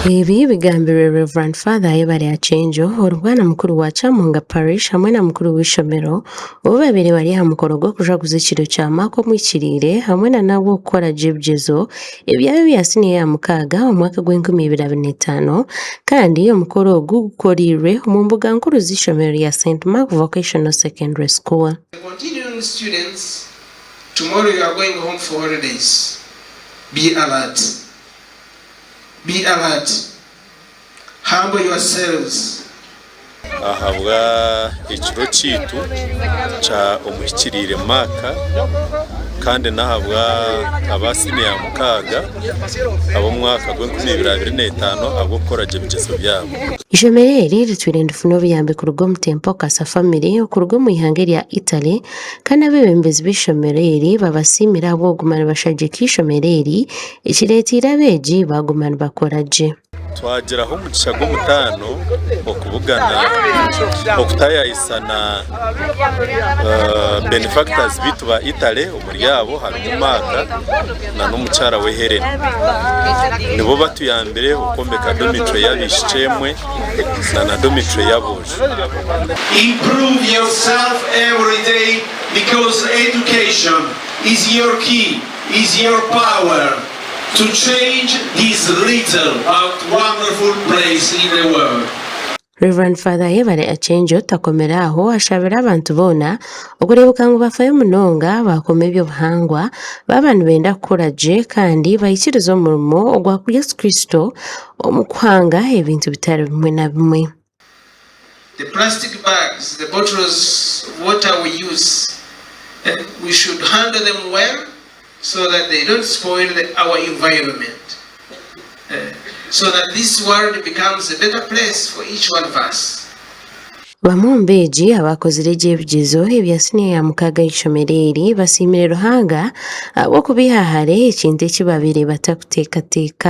Ebi bigambirwe Rev. Father Ayebare Akyenjo ori bwana mukuru wa Kyamunga Parish hamwe na mukuru w'eishomero obu babaire bari aha mukoro gw'okujwaguza ekiro kya Mark Omwikiriire hamwe na nabwo kukora gye ebigyezo ebyabo ebya siniya ya mukaaga omu mwaka gw'enkumi ibiri abiri na etaano kandi omukoro ogu gukoreirwe omu mbuga nkuru z'eishomero rya St Mark Vocational Secondary School. Tomorrow you are going home for holidays be alert be alert humble your selves. Ahabwa ekiro kyaitu kya omuhikiriire Mark kandi n'ahabwa aba siniya ya mukaaga ab'omwaka gw'enkumi ibiri abiri n'etaano ahabw'okukora gye ebigyezo byabo. Ishomero eri ritwire nirifuna obuyambi kuruga omu Temple Casa Family okuruga omu ihanga erya Italy, Kandi abeebembezi b'eishomero eri babasiimire ahabw'okuguma nibashagika eishomero eri, ekireeteire abeegi baaguma nibakora gye. Twagiraho omugisha gw'omutaano okubugana okutaayayisa na benefactors baitu ba Italy omuri abo harimu Mark na n'omukyara we Helen. Nibo batuyambire okwombeka dormitory y'abaishiki emwe na na dormitory y'aboojo. Improve yourself every day because education is your key is your power to change this little but wonderful place in the world. Rev Father Yebare Acenjo takomire aho ashabire abantu boona okureebeka ngu bafayo munonga baakoma eby'obuhangwa baaba nibenda kukora gye kandi baikirize omurimo ogwa Yesu Kristo omu kuhanga ebintu bitari bimwe na bimwe. Bamwe omu beegi abaakozire gye ebigyezo ebya siniya ya mukaaga ah'eishomero eri basiimire Ruhanga ahabw'okubaiha hare ekintu eki baabaire batakuteekateeka.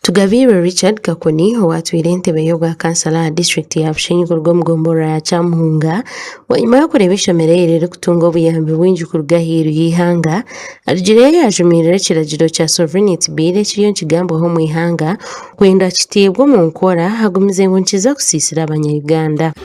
Tugabiirwe Richard Kakuni owaatwire entebe y'obwa kansala aha disiturikiti ya Bushenyi kuruga omu gombolola ya Kyamuhunga, bwanyima y'okureeba eishomero eri ririkutunga obuyambi bwingi kuruga ahairu y'eihanga, arugireyo yaajumiirira ekiragiro kya Sovereignty Bill ekiriyo nikigambwaho omu ihanga kwenda kiteebwe omu nkora, agumize ngu nikiza kusiisira abanya Uganda.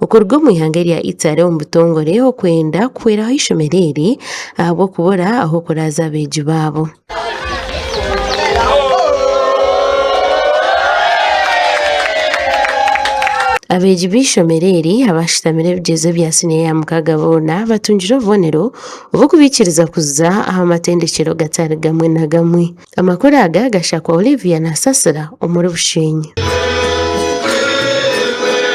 Okuruga omu ihanga erya Italy omu butongore okwenda kuhweraho eishomero eri ahabw'okubura ah'okuraaza abeegi baabo. Abeegi b'eishomero eri abaashutamire ebigyezo bya siniya ya mukaaga boona batungire obubonero obw'okubaikiriza kuza aha matendekyero gatari gamwe na gamwe. Amakuru aga gashakwa Olivia Nasasira omuri Bushenyi.